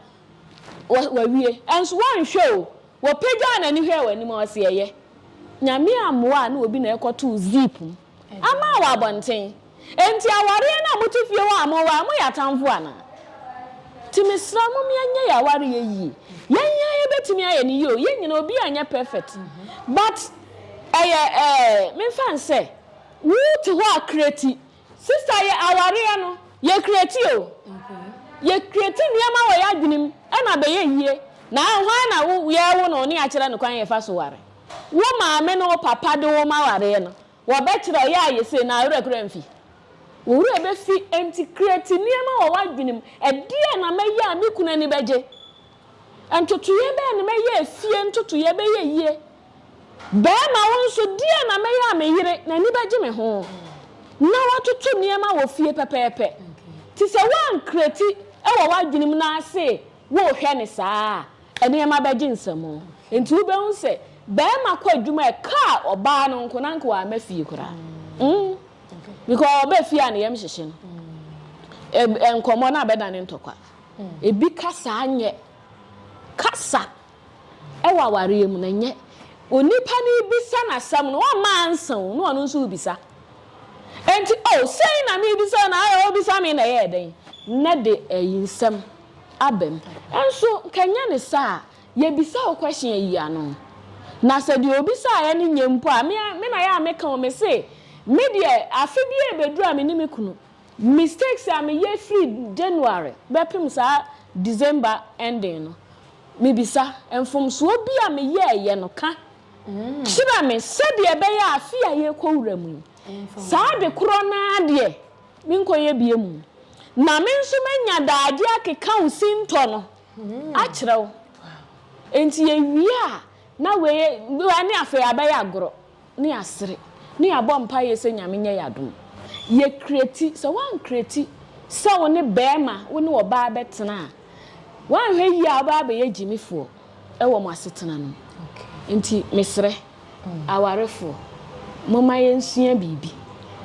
wawie. Nso wɔnhwɛ o, wɔpagyaa n'ani hwɛɛ w'anim a, ɔse ɛyɛ. Nyame ammoa a na obi na ɛkɔtoo zip mu ama wɔ abɔnten. Enti awareɛ no a mote fie hɔ a moware, moyɛ atamfo anaa? Nti mesrɛ mo yɛnyɛ yɛn awareɛ yie. Yɛn yɛn ara yɛbɛtumi ayɛ no yie o, yɛn nyinaa obiara nyɛ perfect but. Ɛyɛ ɛɛ memfa nsɛ. Wo te hɔ a creati. Sista yɛ awareɛ no. Yɛ creati o. Yɛ creati nneɛma wɔ yɛ adwene mu ɛna abɛyɛ yie. Na hwan na wo yɛɛwo no ne akyerɛ no kwan yɛfa so ware. Wo maame ne wo papa de wo ma wareɛ no. Wɔ bɛkyerɛ wo yɛ a yɛ sei na awerɛ koraa mfi. Wo werɛ bɛfi ɛnti creati nneɛma wɔ w'adwene mu. Ɛdeɛn na mɛyɛ a me kunu ani bɛgye? Ntotoeɛ bɛn na mɛyɛ a fie ntotoeɛ bɛyɛ yie? Barima, wo nso, deɛn na mɛyɛ a me yere, n'ani bɛgye me ho, na watoto nneɛma wɔ fie pɛpɛɛpɛ? Te sɛ woankreti wɔ w'adwene mu na ase worehwɛ no saa a, nneɛma bɛgye nsam. Enti wobɛhu sɛ barima kɔ adwuma a, ɛka ɔbaa no nko, na anka wamma fie koraa. Mm, because ɔba fie a ne yam hyehye no, ɛ, nkɔmmɔ no abɛdane ntɔkwa. Ebi kasa nyɛ kasa. Wɔ awareɛ mu no, ɛnyɛ onipa no rebisa no asɛm no, wamma ansa o, na ɔno nso rebisa. Enti, o, sei na merebisa o, na ayɛ ɔrebisa me na ɛyɛɛ dɛn? Na de ayi nsɛm aba mu. Nso, nka ɛnyɛ ne saa a, yɛbisa wo question ayi ano. Na sɛ deɛ ɔbisaeɛ no nyɛ mpo a, me na yɛ a meka o, mese, me deɛ, afe biara ɛbɛduru a me ne me kunu, Mistakes a meyɛ firi January bɛpem saa December ending no, mebisa, mfomsoɔ bi a meyɛeɛ no ka kyerɛ me sɛdeɛ ɛbɛyɛ a afe a yɛrekɔwura mu yi, saa ade korɔ no ara deɛ menkɔyɛ biom, na me nso manya daagye akeka wo sintɔ no akyerɛ wo? Enti yɛwie a, na wei ne afei abɛyɛ agorɔ. Ne yɛasere, ne yɛabɔ mpaeɛ sɛ Nyame nyɛ yɛ adom. Yɛ kreti, sɛ woankreti sɛ wo ne bɛɛma, wo ne ɔbaa bɛtena a, woanhwɛ yie a wobɛba abɛyɛ gyimifoɔ wɔ mo asetena no mu. Nti mesrɛ, awarefoɔ, momma yɛnsua biribi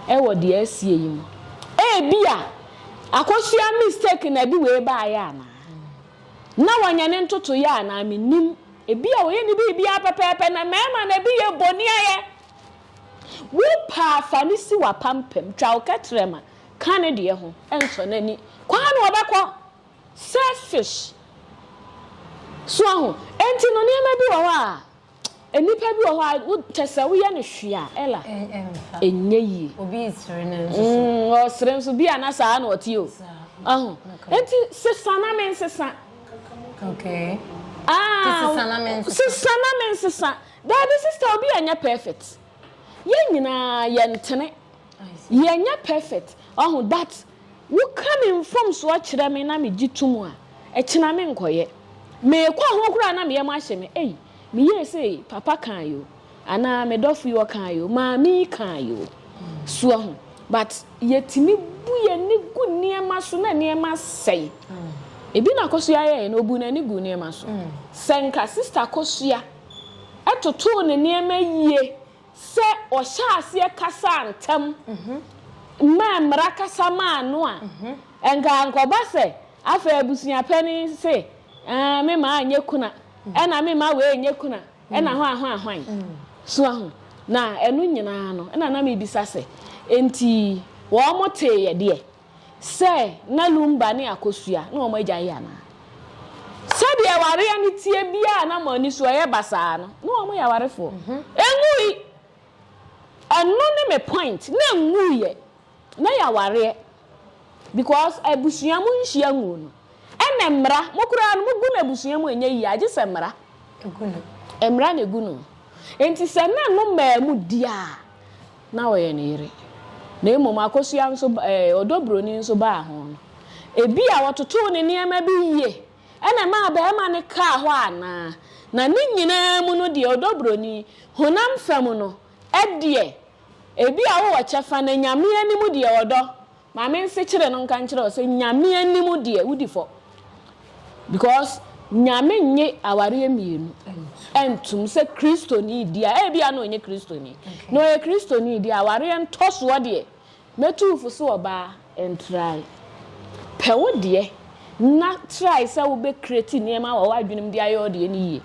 wɔ deɛ asie yi mu. Ebia, akosua mistake na ɛde wei baeɛ anaa? Na wanya ne ntotoeɛ anaa? Mennim. Ebia wɔyɛ ne biribiara pɛpɛɛpɛ na mmarima no ebi yɛ boniayɛ. Wo pɛ a fa no si w'apampam, twa wo kɛtrɛma ka ne deɛ ho, nsɔ n'ani. Kwan na ɔbɛkɔ. Selfish. So ahu? Enti no nneɛma bi wɔ hɔ a, nnipa bi wɔ hɔ a, wo kyɛ sɛ woyɛ no hwee a, Ella, ɛnyɛ yie. Obi resere no nso so. Mm, ɔresere nso, bi a na saa na ɔte o. Ahu? Enti sesa na mensesa. Okay. Ah, sesa na me nsesa. Sesa na me nsesa. Daabi sister obi anyɛ perfect. Yɛn nyinaa yɛntene. Yɛnyɛ perfect. Ɔho but woka me mfomsoɔ kyerɛ me na megye to mu a, ɛkyena menkɔyɛ. Meekɔ ho koraa na me yam ahye me. Ei, meyɛɛ sei, papa kae o. Anaa me dɔfo yi ɔkaa yi o, maame yi kaa yi o. So wahu? But yɛtumi bu yɛn ani gu nneɛma so na nneɛma sɛe. Ebi na Akosua yɛeɛ no, ɔbuu n'ani guu nneɛma so. Sɛ nka Sista Akosua totoo ne nneɛma yie sɛ ɔhyɛɛ aseɛ kasaa ntɛm maa mmara kasa maa no a, nka ankɔba sɛ afei abusua panin se, Ɛɛ, me mma anyɛ kuna, ɛna me mma wei nyɛ kuna. Nna hɔ ahɔn hwan so ahu? Na ɛno nyina ara no, nna na mebisa sɛ, Enti wɔtee yɛ deɛ sɛ na Lumba ne Akosua ne wɔn agya yɛ anaa? Sɛdeɛ awareɛ no teɛ biara a na wɔn ani so ɛyɛ basaa no, na wɔn yɛ awarefoɔ. Ɛnwui! Ɛno ne me point. Na ɛnwuiɛ. na yɛ awareɛ because abusua mo nhyia nguo no ɛna mmara mo koraa no mo gu no abusua mu ɛnyɛ yie agye sɛ mmara mmara na egu no nti sɛ na no mmaa mu di a na ɔyɛ ne yere na mmom akosua nso ɛɛ ɔdɔ broni nso baa ho no ebi a wɔtotoo ne nneɛma bi yie ɛna ɛmaa barima no kaa hɔ anaa na ne nyinaa mu no deɛ ɔdɔ broni honam fam no ɛdeɛ. Ebia wowɔ kyɛfa na Nyame anim deɛ ɔdɔ. Ma me nsekyere no nka nkyerɛ wo sɛ Nyame anim deɛ wodi fɔ because Nyame nnye awareɛ mmienu ntom sɛ Kristoni di a ebia na ɔnyɛ Kristoni na ɔyɛ Kristoni deɛ awareɛ ntɔsoɔ deɛ mɛtu wo fo sɛ ɔbaa Ntrae. Pɛ wo deɛ na try sɛ wo bɛ create nneɛma wɔ w'adwene mu de ayɛ wo deɛ no yie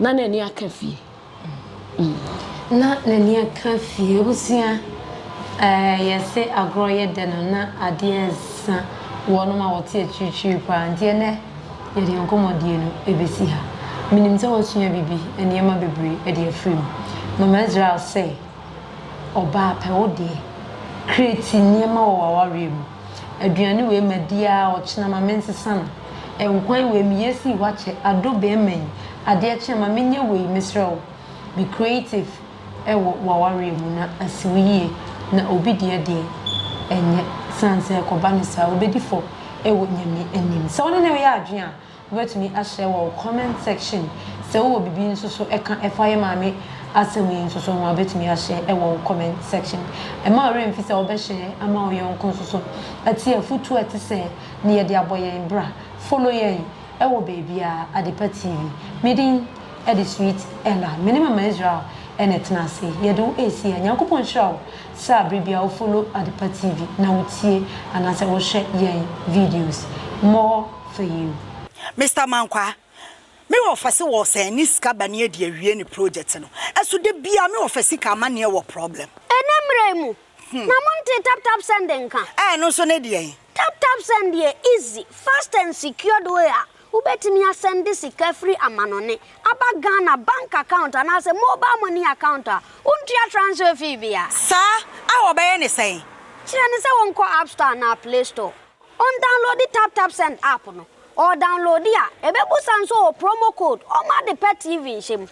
na n'ani aka fie. Na n'ani aka fie. Abusua, eh, yɛse agorɔ yɛ dɛ no na adeɛ nsa wɔ nom a wɔte akyirikyiri paa nti ɛnɛ yɛde yɛn nkɔmmɔdie no ɛbɛsi ha. Menim sɛ woasua biribi, nneɛma bebree de afiri mu. Mama Israel sɛ. Ɔbaa pɛ wo deɛ. Create nneɛma wɔ w'awareɛ mu. Aduane wei madi aa ɔkyena ma mensesa no. Nkwan wei meyɛ sii hɔ akyɛ adɔ bɛɛma yi adeɛ kye a ma menyɛ wei mesrɛ wo. Be creative wɔ w'awareɛ mu na asi wo yie na obi deɛ deɛ ɛnyɛ sane sɛ ɛkɔba no saa wobɛdi fɔ wɔ Nyame anim. Sɛ wo ne no reyɛ adwene a Wobɛtumi ahyɛ wɔ comment section sɛ wowɔ biribi nso so ɛka ɛfa yɛ maame asɛm yi nso so ho a wobɛtumi ahyɛ ɛwɔ comment section. Ɛma wo werɛ mfi sɛ wobɛhyɛ ama wo yɔnko nso so ɛte afutuo a ɛte sɛ ne yɛde abɔ yɛn bra. Follow yɛn ɛwɔ baabiara Adepa TV. Me din ɛde Sweet Ella. Me ne Mama Israel ɛna ɛtena ase yɛde wo ɛresi ha. Nyankopɔn nhyira wo sɛ abere biara wo follow Adepa TV na wo tie anaasɛ wo hwɛ yɛn videos. More. for you. Mister Mankwaa, me wɔfa se wɔ sɛn ne sika ba ne adi awie ne project no ɛso da biaa me wɔfa sika amaneɛ wɔ problem. Ɛnɛ mmerɛ yi mu na mo ntee tap tap send nka? Ɛɛ ɛno nso ne deɛn? Tap tap send yɛ easy, fast and secured way a wobɛtumi asɛnde sika firi amanɔne aba Ghana bank account anaasɛ mobile money account a wontua transfer fee biara. Saa? A wɔbɛyɛ ne sɛn? Kyerɛ no sɛ wɔnkɔ App Store anaa Play Store. Ɔndawnlode TapTapSend app no. Ɔɔdawnlode a, ebebisa no sɛ ɔwɔ promo code ɔma ade pɛ TV nhyɛ mu.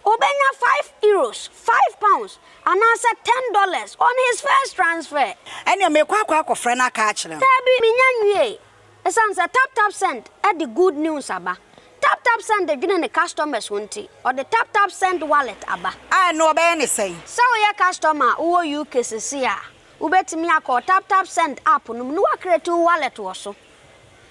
Obenya five Euros, five pounds, anaasɛ ten dollars on his first transfer. Ɛneɛ meekɔ akɔ akɔfrɛ no aka akyerɛ no. Daabi, menya nwiee. Esiane sɛ TapTapSend de good news aba. TapTapSend dwene ne customers ho nti, ɔde TapTapSend Wallet aba. A ɛno ɔbɛyɛ ne sɛn? Sɛ woyɛ customer a wowɔ UK sesei a, Wobɛtumi akɔ wo TapTapSend app no mu na woacreate wo wallet wɔ so.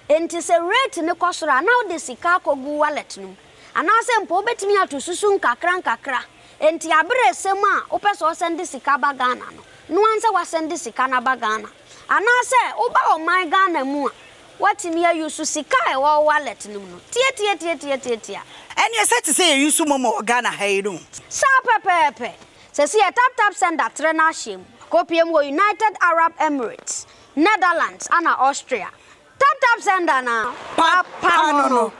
Enti sɛ rate no kɔ soro a, na wode sika akɔgu wo wallet no mu. Anaasɛ mpo wobɛtumi ato susu nkakrankakra. Enti aberɛ resɛ mu a wopɛ sɛ wosɛnde sika ba Ghana no, no ara sɛ woasɛnde sika no aba Ghana. Anaasɛ woba ɔman Ghana mu a, woatumi a use sika a ɛwɔ wo wallet no mu no. Tiatiatiatiatiatia. Ɛneɛ sɛ te sɛ yɛ use momo wɔ Ghana ha yi no. Saa pɛpɛɛpɛ. Sesei TapTap Sender trɛ no ahyeɛ mu kɔpue mu wɔ United Arab Emirates, Netherlands ana Austria. TapTap Sender no a papa no no.